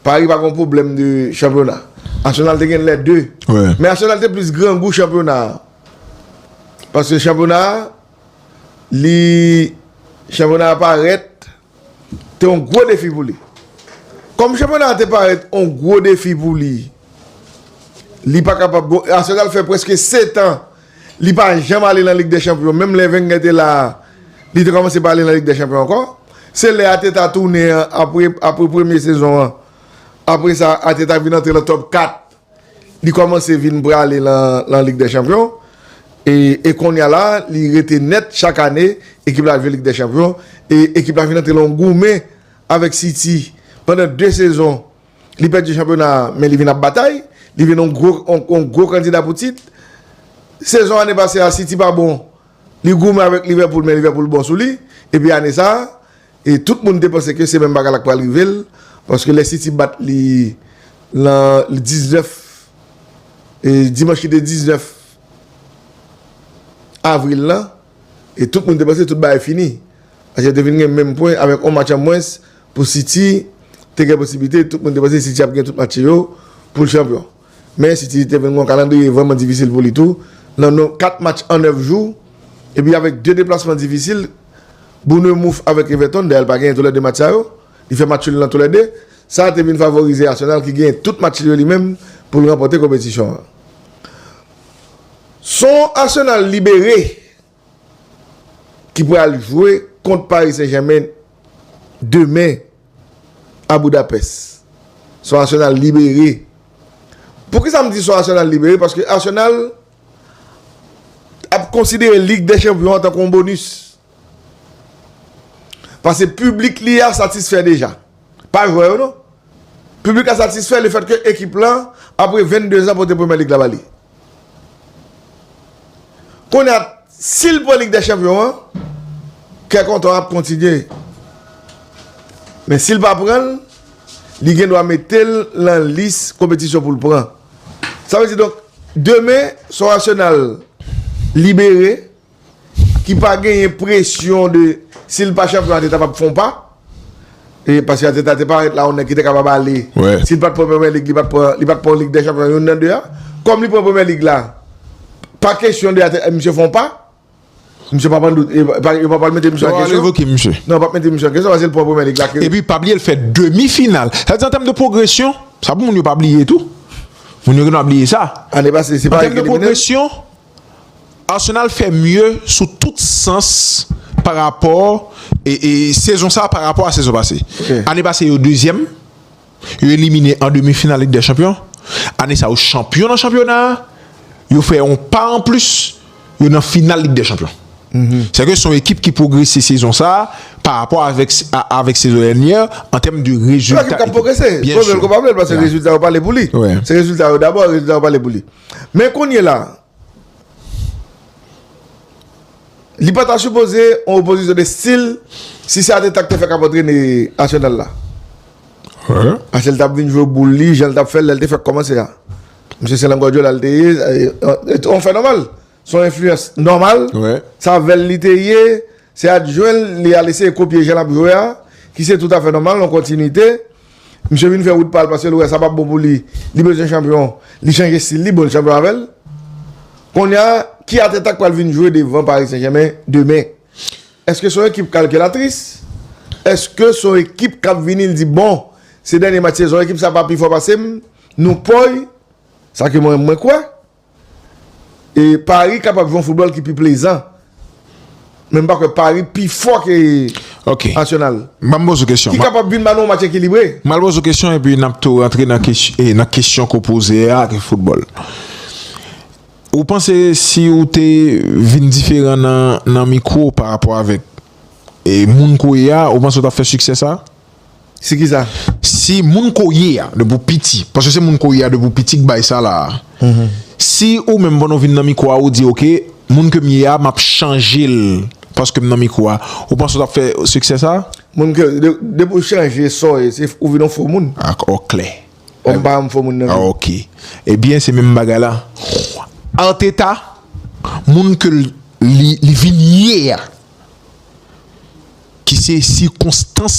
Paris pa gon pwoblèm de chanpyona. Arsenal te gen lè 2. Men Arsenal te plis grangou chanpyona a. Paske chanpyona a, li, chanpyona a parèt te yon gwo defi pou li. Kòm chanpyona a te parèt yon gwo defi pou li, li pa kapab, bon Arsenal fè prèske setan. Li pa janm ale nan Lig dè Chanpyon. Menm lè Wenger te la a, li te kòmanse pa ale nan Lig dè Chanpyon ankò. Se lè Arteta tounen an, apre premye sezon an, apre sa Arteta vin antre nan Top 4, li kòmanse vin prale nan Lig dè Chanpyon. E kounye a la, li rete nèt chak ane, ekip la jwe Lig dè Chanpyon. E ekip la vin antre nan yon goumen avèk City pandan de sezon. Li pèdi chanpyona a men li vin ap batay, li vin yon gwo kandida pou tit. Sezon ane pase a City pa bon, li goumen avèk Liverpool men Liverpool bon sou li. Epi ane sa a, tout moun te panse ke se menm bagay la k pral rive l, paske lè City bat li lan 19, dimanch ki te 19 avril lan, e tout moun te panse tout bagay fini. Ajen te vin gen menm pwen avèk on match an mwens pou City te gen posiblite, tout moun te panse City ap gen tout match yo pou l chanpyon. Men City te vin gen on kalandriye vrèman difisil pou li tou nan non 4 match an 9 jou epi avèk 2 deplasman difisil, Bournemouth avèk Everton, dayè l pa genyen tou lè 2 match sa yo, li fè match nul nan tou lè 2, sa te vin favorize Arsenal ki genyen tout match li yo li menm pou l ranpòte konpetisyon an. Son Arsenal libere ki pral jwe kont Paris Saint Germain demen a Budapest. Son Arsenal libere. Poukisa m di son Arsenal libere? Paske Arsenal ap konsidere Lig dè Chanpyon an tankou yon bonus. Pase piblik li a satisfè deja. Pa jwè yo non. Piblik la satisfè le fèt ke ekip lan apre 22 zan pote premyè lig la ba li. Kounye a si l pran lig dè chanpyon an, kè kontan ap kontinye. Men si l pa pran l, li gen dwa mete l lan lis konpetisyon pou l pran. Sa vle di donk demen sou Arsenal libere. ki pa genyen presyon de si l pa chanpyon Ateta p ap fè yon pa e paske Ateta te parèt la yon nèg ki te kapab ale si l pa t pran Premyè Lig li pa t pran li pa t pran Lig dè Chanpyon youn nan de a kòm li pran Premyè Lig la pa kesyon de Ateta misye fè yon pa misye p ap an dout e yo pa pral mete misye an kesyon non yo p ap mete misye an kesyon paske l pran Premyè Lig la ke epi pa bliye l fè demi final sa vle di an tèm de pwogresyon sa pou moun yo pa bliye tou moun yo gen dwa bliye sa ane pase se pa li ki elimine l. Arsenal fè mye sou tout sans pa rapò sezon sa pa rapò a sezon pase. Ane pase yo dezyèm, yo elimine an demi final Lig dè Chanpyon. Ane sa yo chanpyon nan chanpyona a, yo fè yon pa an plis, yo nan final Lig dè Chanpyon. Sa vle di se yon ekip ki pwogrese sezon sa pa rapò avèk sezon dènyè an tèm de rezilta. Se yon ekip k ap pwogrese, vle l ko pa vle l paske rezilta yo pale pou li. Se rezilta yo dabò, rezilta yo pale pou li. Men kounye la, li pa ta sipoze yon opozisyon de stil si se Ateta ki te fè kap antrene Arsenal la. Paske li tap vin jwe boul li jan li tap fè lè li te fèk kòmanse a. Misye se nan Guardiola li te ye, yon fè nòmal. Son enfliyans nòmal, sa vèl li te ye, se adjwen l, li al eseye kopye jan l ap jwe a, ki se toutafè nòmal, yon kontinite. Misye vin fè wout pa l paske l wè sa p ap bon pou li, li bezwen chanpyon, li chanje stil li, bon l chanpyon avè l. Kounye a, ki ateta k pral vin jwe devan Paris Saint-Germain demen? Eske son ekip kalkilatris? Eske son ekip k ap vini l di bon, se dènye match sezon, ekip sa pa pi fò pase m, nou pòy, sa ke mwen kwè. E Paris kapab jwe yon foutbòl ki pi plezan. Men m pa kwè Paris pi fò ke Arsenal. Ki kapab vin ba nou yon match ekilibre. M al poze w kesyon epi n ap tou rantre nan kesyon ke w poze a ke foutbòl. Ou panse si ou te vin diferan nan mikwo parapò avèk moun ke w ye a, ou panse ou t ap fè siksè sa? Si ki sa? Si moun koye a depi ou piti, paske se moun koye a depi ou piti k bay sa la a. Si ou menm pandan ou vin nan mikro a ou di ok, moun ke m ye a m ap chanje l paske m nan mikro a, ou panse ou t ap fè siksè sa a? Moun ke, depi ou chanje sa w ye, se ou vin yon fo moun. A o klè. Bon m pa yon fo moun nan vre. A ok. Ebyen se menm bagay la. Arteta, moun ke li vin ye a. ki se sikonstans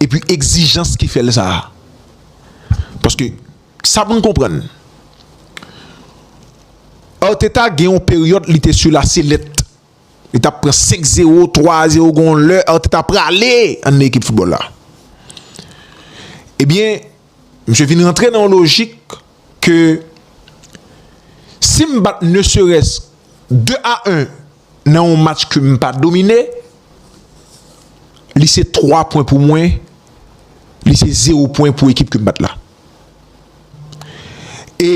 epi egzijans ki fè l sa a. Paske, sa pou n konprann, Arteta gen yon peryòd li te sou la selèt. Li t ap pran 5 zewo, 3 a zewo, gen yon lè Arteta prale anndan ekip foutbòl la. Ebyen, misye vin rantre nan yon lojik ke si m bat ne serès 2 a 1. nan yon match ke m pa domine, li se 3 pwen pou mwen, li se 0 pwen pou ekip ke m bat la. E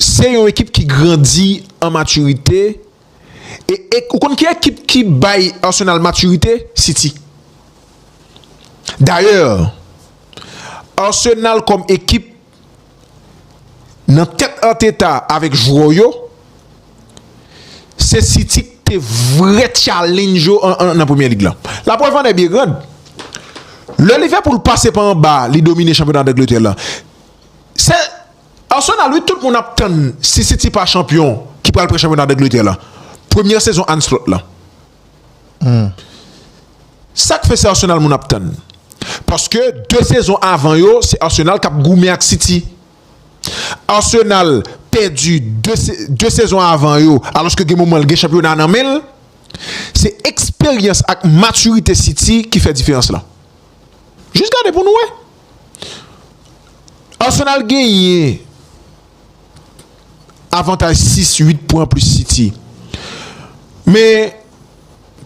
se yon ekip ki grandi an matirite, e ou konn ki ekip ki bay Arsenal matirite? City. Dayè, Arsenal kòm ekip, Nan tèt Arteta avèk jwè yo, se City ki te vrè tchalenj yo nan Premyè Lig la. Laprèv annè byen grand, lè Liverpool pase pa anba li domine chanpyona Dangletè la, se Arsenal wi tout moun ap tann si City pa chanpyon ki pral pran chanpyona Dangletè la, premyè sezon Arne Slot la. Sak fè se Arsenal moun ap tann paske 2 sezon avan yo se Arsenal kap goumen ak City Arsenal pèdi 2 sezon avan yo alòske gen moman li gen chanpyona nan menl se eksperyans ak matirite City ki fè diferans lan jis gade pou nou wè Arsenal genyen avantaj 6, 8 pwen anplis City. Men,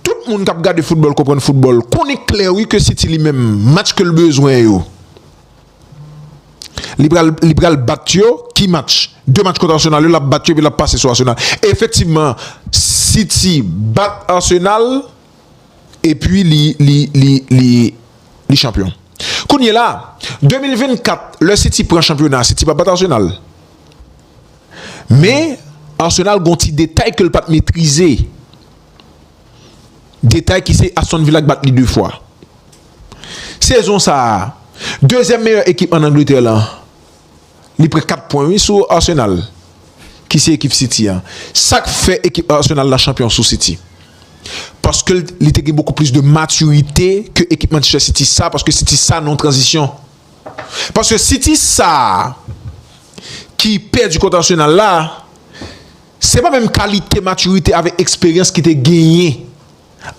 tout moun k ap gade foutbòl, konprann foutbòl, konnen klè wi ke City li menm, match ke l bezwen yo, li pral, li pral bat yo, ki match? 2 match kont Arsenal yo, l ap bat yo epi l ap pase sou Arsenal. Efektivman, City bat Arsenal. epi li li li li li chanpyon kounye la 2024 lè city pran chanpyona city pa bat arsenal men arsenal gon ti detay ke l pat metrize detay ki se aston villa ki bat li 2 fwa sezon sa dezyèm meyè ekip an angletè lan. Li pran 4 pwen wi sou Arsenal ki se ekip City an. Sak fè ekip Arsenal la chanpyon sou City? Paske li te gen bokou plis de matirite ke ekip Manchester City sa paske City sa nan yon tranzisyon. Paske City sa ki pèdi kont Arsenal la se pa menm kalite matirite avèk eksperyans ki te genyen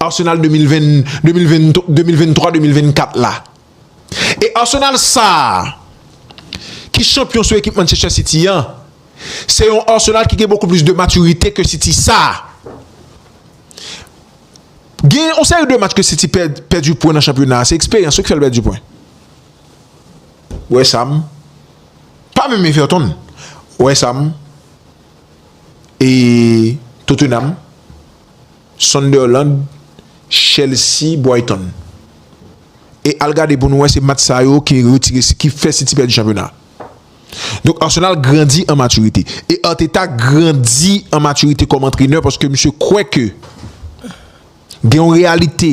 Arsenal 2020 2023 2024 la. E Arsenal sa a, ki chanpyon sou ekip Manchester City an, se yon Arsenal ki gen bokou plis de matirite ke City sa a. Gen yon seri de match ke City pèdi pwen nan chanpyona a, se eksperyans yo ki fè l pèdi pwen. West Ham, pa menm Everton, West Ham e Tottenham. Sunderland, Chelsea, Brighton e al gade pou nou wè se match sa yo ki retire ki fè City pèdi chanpyona. Donk Arsenal grandi an matirite e Arteta grandi an matirite kòm antrenè paske misye kwè ke gen yon reyalite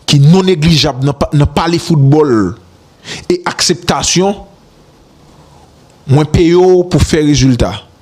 ki non neglijab nan pale foutbòl e akseptasyon mwen peye w pou fè rezilta.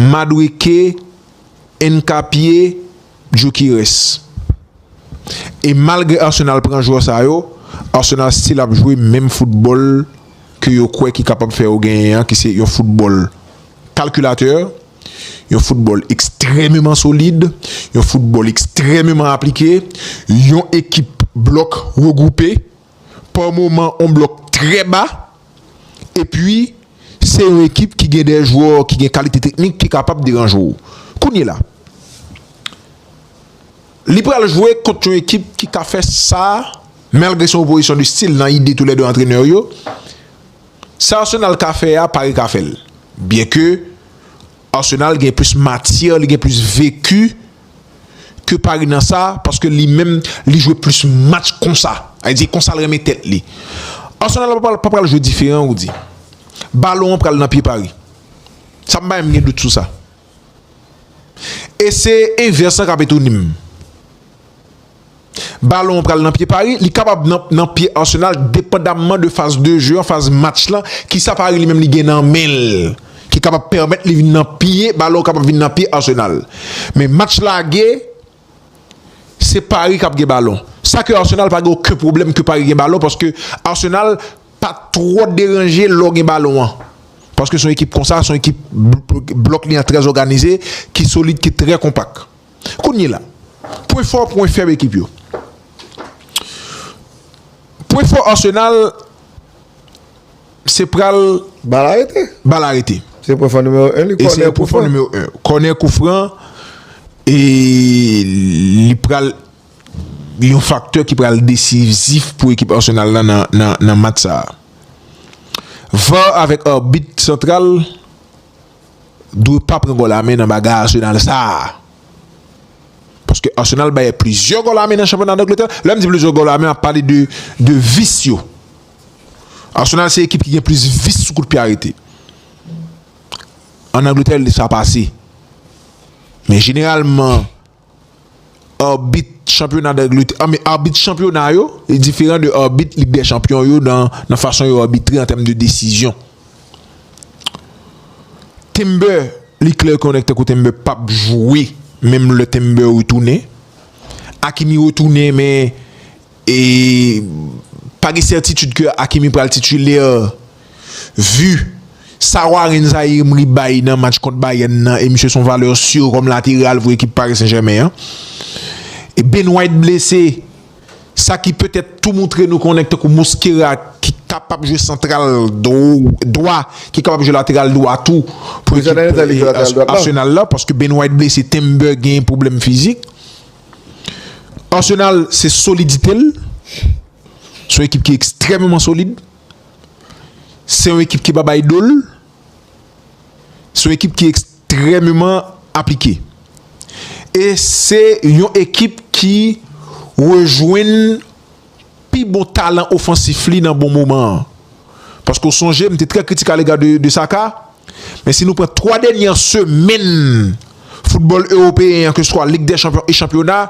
Madweke, Nkapie, Gyokeres. E malgre Arsenal pran jwè sa yo, Arsenal stil ap jwe menm foutbòl ke yo kwè ki kapab fè yo genyen an ki se yon foutbòl kalkilatè, yon foutbòl ekstrèmeman solid, yon foutbòl ekstrèmeman aplike, yon ekip blòk regwoupe. pa moman on blòk trè ba epi se yon ekip ki gen de jwè ki gen kalite teknik ki kapab deranje w. Kounyela li pral jwe kont yon ekip ki ka fè sa malgre se yon opozisyon de stil nan ide tou lè 2 antrenè yo. Sa Arsenal ka fè a Paris ka fè l byenke Arsenal gen plis matyè li gen plis veki. ke Paris nan sa paske li menm li jwe plis match konsa a di konsa l renmen tèt li Arsenal pa pral jwe diferan Rudy balon an pral nan pye Paris sa m pa menm gen dout sou sa e se envès lan k ap etone m. Balon an pral nan pye Paris, li kapab nan pye Arsenal depandamman de faz de je an, faz match lan, kisa Paris li menm li gen nan men l ki kapab pèmèt li vin nan pye, balon kapab vin nan pye Arsenal. Men match lage, se Paris kap gen balon. Sa ke Arsenal pa gen oken pwoblèm ke Paris gen balon paske Arsenal pa twò deranje lò gen balon an. Paske son ekip konsa, son ekip blòk li an trè zòganize, ki solid, ki trè konpak. Kounyela, pwen fò, pwen fèb ekip yo. Pwen fò Arsenal se pral. Bal arete. Bal arete. Se pwen fò nimewo 1 li, kònè koufran. E se pwen fò nimewo 1. Kònè koufran e li pral yon faktè ki pral desizif pou ekip Arsenal la nan match sa a. Var avèk arbit santral. dwe pa pran gòl amè nan bagay Arsenal sa a. Paske Arsenal bay plizyè gòl amè nan chanpyona Dangletè. Lè m di plizyè gòl amè, m ap pale de vis yo. Arsenal se ekip ki gen plis vis sou kout pye arete. An Dangletè sa pase. Men jeneralman. Arbit chanpyona d'Angletè, anben, arbit chanpyona yo e diferan de arbit Lig dè Chanpyon yo nan nan fason yo arbitre an tèm de desizyon. Timber, li klè konnen tankou Timber pap jwe menm lè Timber retounen. Hakimi retounen men. E pa gen sètitid ke Hakimi pral titulaire vu sa Warren Zaïre-Emery bay nan match kont Bayern nan e misye son valeur sûre kòm lateral pou ekip Paris Saint-Germain an. E Ben White blese sa ki petèt tou moutre nou konnen tankou Mosquera ki kapab jwe santral dwa ki kapab jwe lateral dwa tou pou ekip Arsenal la paske Ben White blese Timber gen pwoblèm fizik. Arsenal se solidite l, se yon ekip ki ekstrememan solid, se yon ekip ki pa bay do l, se yon ekip ki ekstrememan aplike. E se yon ekip ki rejwenn. pi bon talan ofansif li nan bon moman an. Paske w sonje m te trè kritik alega de Saka, men si nou pran 3 dènyè semenn foutbòl ewopeyen an keseswa Lig dè Chanpyon e chanpyona,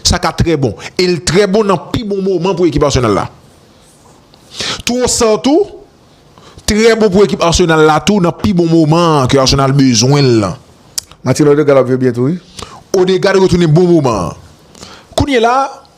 Saka trè bon. E l trè bon nan pi bon moman pou ekip Arsenal la. Trossard tou trè bon pou ekip Arsenal la tou nan pi bon moman an ke Arsenal bezwen l lan. Martin Odegaard ap jwe byen tou wi. Odegaard retounen bon moman an. Kounyela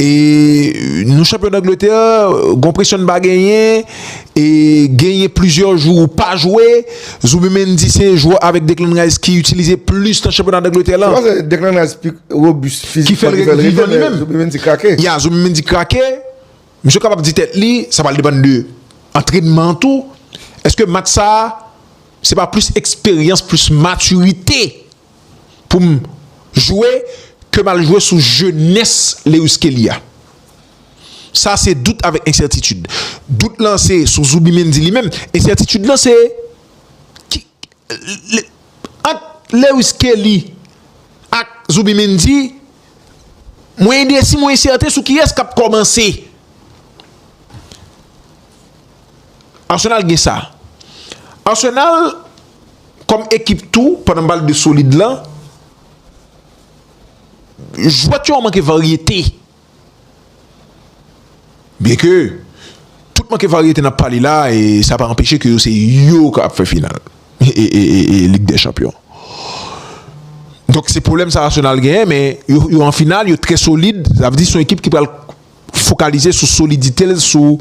e nou chanpyon dangletè gon presyon n pa genyen e genyen plizyè jou ou pa jwe Zubi Mendy se jwè avèk Declan Rice ki itilize plis nan chanpyona dangletè lan ki fèl vivan li menm ya Zubi Mendy krake misye kapab di tèt li sa pral depann de antrenman an tou èske match sa se pa plis eksperyans plis matirite pou m jwe ke m al jwe sou jenès Lewis Kelly a. Sa se dout avèk ensètitid. Dout lan se sou Zubimendi li menm. Ensètitid lan se ki ant Lewis Kelly ak Zubimendi mwen endesi mwen ensèten sou kiyès k ap kòmanse. Arsenal gen sa. Arsenal kòm ekip tou pandan m pale de solid lan jwèt yo manke varyete. Byen ke tout manke varyete n ap pale la e sa pa anpeche ke yo se yo k ap fè final e lig dè chanpyon. Donk se pwoblèm sa Arsenal genyen men yo an final yo trè solid sa vle di se yon ekip ki pral fokalize sou solidite l, sou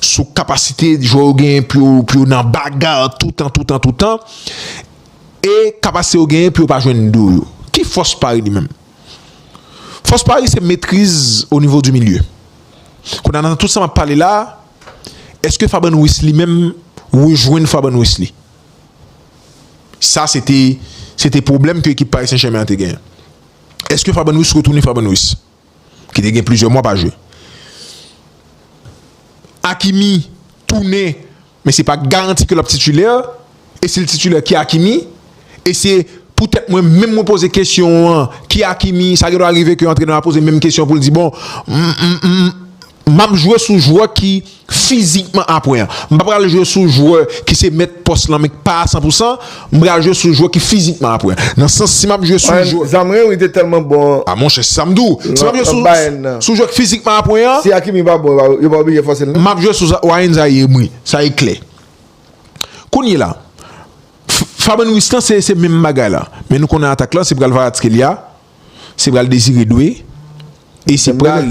sou kapasite jwè yo genyen pou yo pou yo nan baga toutan toutan toutan e kapasite yo genyen pou yo pa jwenn do yo. Ki fòs Paris li menm? Fòs Paris se metriz o nivo di milye. Kounye a nan tout sa m ap pale la a, èske Fabian Ruiz li menm rejwenn Fabian Ruiz li? Sa se te se te pwoblèm ke ekip Paris Saint-Germain an te genyen. Èske Fabian Ruiz retounen Fabian Ruiz? ki te gen plizyè mwa pa jwe. Hakimi tounen men se pa garanti ke l ap titulè e si l titulè ki Hakimi e se poutèt mwen menm mwen poze kesyon an ki Hakimi sa gen dwa rive ke antrenè a poze menm kesyon pou l di bon m m m M ap jwe sou jwè ki fizikman apwen an. M pa pral jwe sou jwè ki se mèt pòs lan men k pa a san pou san. M pral jwe sou jwè ki fizikman apwen an. Nan sans si m ap jwe sou jwè. Bayern, Zamren wi te tèlman bon. A monchè se sa m di w. Si m ap jwe sou sou jwè k fizikman apwen an. Si Hakimi pa bon yo pa oblije fòse l nan. M ap jwe sou Ryan Zayeh m wi. Sa e klè. Kounyela Fabian Ruiz lan se menm bagay la. Men nou konnen atak lan se pral Kvaratskhelia. Se pral Désiré Doué e se pral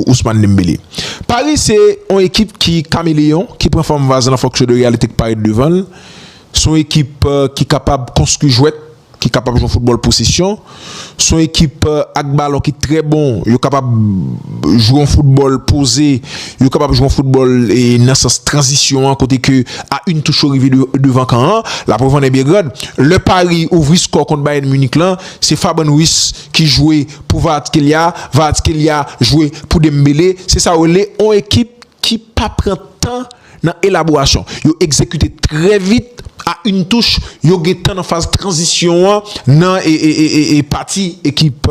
Ousmane Dembélé. Paris se yon ekip ki kameleyon, ki pran fòm vaz lan fonksyon de reyalite ki parèt devan l. Se yon ekip ki kapab konstwi jwèt, ki kapab jwe yon foutbòl posesyon. Se yon ekip ak balon ki trè bon, yo kapab jwe yon foutbòl poze. Yo kapab jwe yon foutbòl nan sans tranzisyon an kote ke a yn touch yo rive devan kan an, laprèv ann è Belgrad. Lè Paris ouvri skò kont Bayern Munich lan, se Faban Ruiz ki jwe pou Kvaratskhelia, Kvaratskhelia jwe pou Dembele, se sa yo rele yon ekip ki pa pran tan nan elaborasyon. Yo egzekite trè vit. A yn touch, yo gentan nan faz tranzisyon an nan pati ekip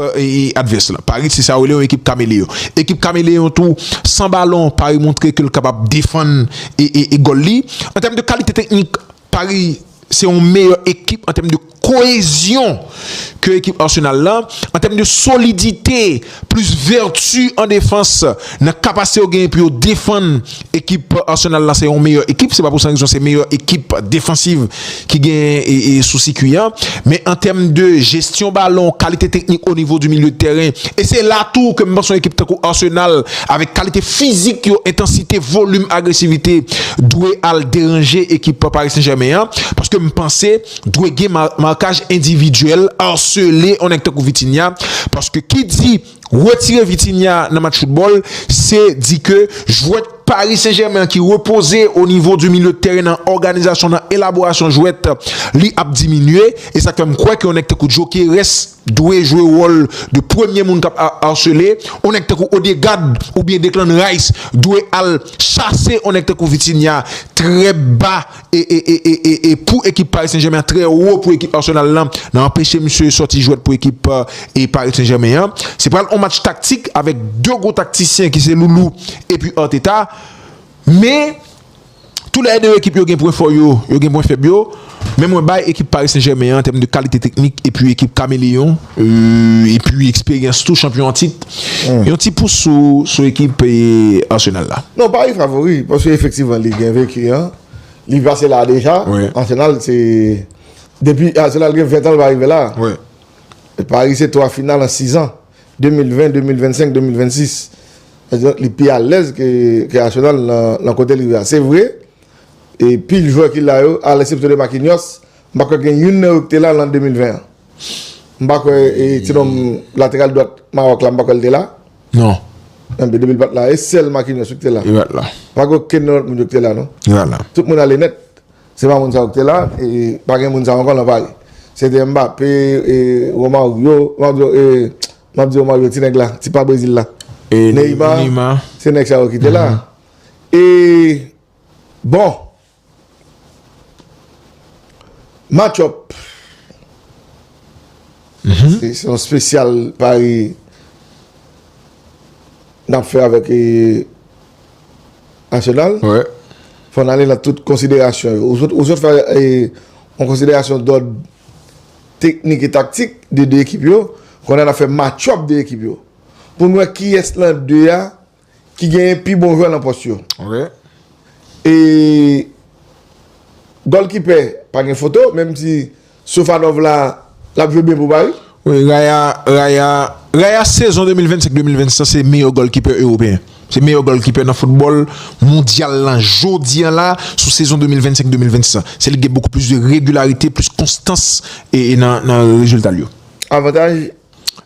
advès la. Paris se sa yo rele yon ekip kameleyon. Ekip kameleyon tou, san balon, Paris montre ke l kapab defann gòl li. An tèm de kalite teknik, Paris se yon meyè ekip an tèm de. Koezyon ke ekip Arsenal la, an tèm de solidite, plis vèti an defans, nan kapasite yo genyen pou yo defann, ekip Arsenal la se yon meyè ekip, se pa pou san rezon se meyè ekip defansiv ki genyen sou sikwi a. Men an tèm de jesyon balon, kalite teknik o nivo di milye de tèren, e se la tou ke m panse yon ekip tankou Arsenal, avèk kalite fizik yo, entansite, volim, agresivite, dwe al deranje ekip Paris Saint-Germain an, paske m panse. dwe gen markaj endividyèl, arsele yon nèg tankou Vitinha, paske ki di retire Vitinha nan match foutbòl, se di ke jwèt Paris Saint Germain an ki repoze o nivo di milye de tèren nan òganizasyon, nan elaborasyon jwèt, li ap diminye, e sa k fè m kwè ke yon nèg tankou Gyokeres dwe jwe wòl de premye moun k ap arsele, yon nèg tankou Odegaard oubyen Declan Rice dwe al chase yon nèg tankou Vitinha trè ba e pou ekip Paris Saint-Germain an trè wo pou ekip Arsenal lan nan anpeche misye sòti jwèt pou ekip Paris Saint-Germain an. Se pral yon match taktik avèk 2 gwo taktisyen ki se Loulou epi Arteta. Men, tou lè 2 ekip yo gen pwen fò yo, yo gen pwen fèb yo. Men mwen bay ekip Paris Saint-Germain an an tèm de kalite teknik epi ekip kameleyon epi eksperyans tou chanpyon an tit. Yon ti pous sou ekip Arsenal la. Non pa yon favori, paske efektivman li gen veki an, li pase la deja, Arsenal se, depi Arsenal gen 20 tan li pa rive la, Paris se 3 final an 6 an, 2020, 2025, 2026, li pi alèz ke Arsenal nan kote li rive la, se vre, e pil jwè ki la yo, a lèsepsyon de Marquinhos, m pa kwè gen youn nan yo ki te la lan 2020 an. M pa kwè e ti nonm lateral dwat Mawòk la m pa kwè l te la. Non. Ebyen depi l pa t la e sèl Marquinhos wi ki te la. Li pa t la. Pa gen okenn nan lòt moun yo ki te la non. Li pa t la. Tout moun ale nèt. Se pa moun sa yo ki te la e pa gen moun sa yo ankò nan Paris. Se te Mbappé e Romario, Romario e m ap di Romario ti nèg la, ti pa Brésil la. E Neymar. Neymar. Se nèg sa yo ki te la. E bon. Match up Se yon spesyal pari Nap fè avèk Arsenal Fò n ale nan tout konsiderasyon yo Ou sot fè yon konsiderasyon dòd Teknik e taktik de 2 ekip yo Kounye a n ap fè match up 2 ekip yo Pou n wè kiyès nan 2 a ki genyen pi bon jwè nan pòs yo. E gòlkipè pa gen foto, menm si Sofanov la, l ap jwe byen pou Pari. Wi, Raya, Raya, Raya sezon 2025-2026 la se meyè gòlkipè ewopeyen. Se meyè gòlkipè nan foutbòl mondyal la jodi an la sou sezon 2025-2026 la. Se li ki gen bokou plis de regilarite, plis konstans e nan rezilta l yo. Avantaj?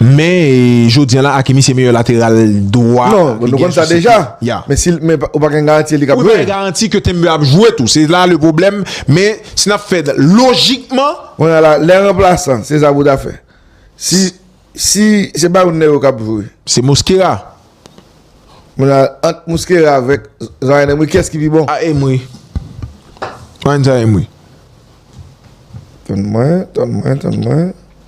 Men jodi an la Hakimi se meyè lateral dwa ki gen sou site. Men ou pa gen garanti li k ap jwe. Ou pa gen garanti ke Timber ap jwe tou. Se la le pwoblèm. Men si n ap fè lojikman. Kounye a la, lè ranplasan se sa pou ta fè. Si se pa youn nan yo k ap jwe. Se Mosquera. Kounye a la, ant Mosquera avèk Zaïre Emery, kiyès ki pi bon? A Emery. Mwen Zaïre Emery. Tann mwen, tann mwen, tann mwen.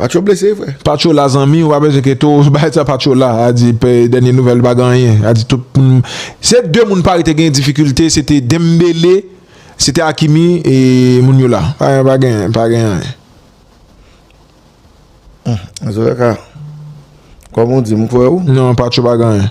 Paco blese vre. Paco la zanmi ou pa bezwen ke to bay sa paco la a di pe denye nouvel pa gen anyen a di tout moun se de moun pari te gen difikilte se te dembele se te akimi e moun yo la pa pa gen pa gen anyen. Zoya ka Koman w di m kwè ou? Non paco pa gen anyen.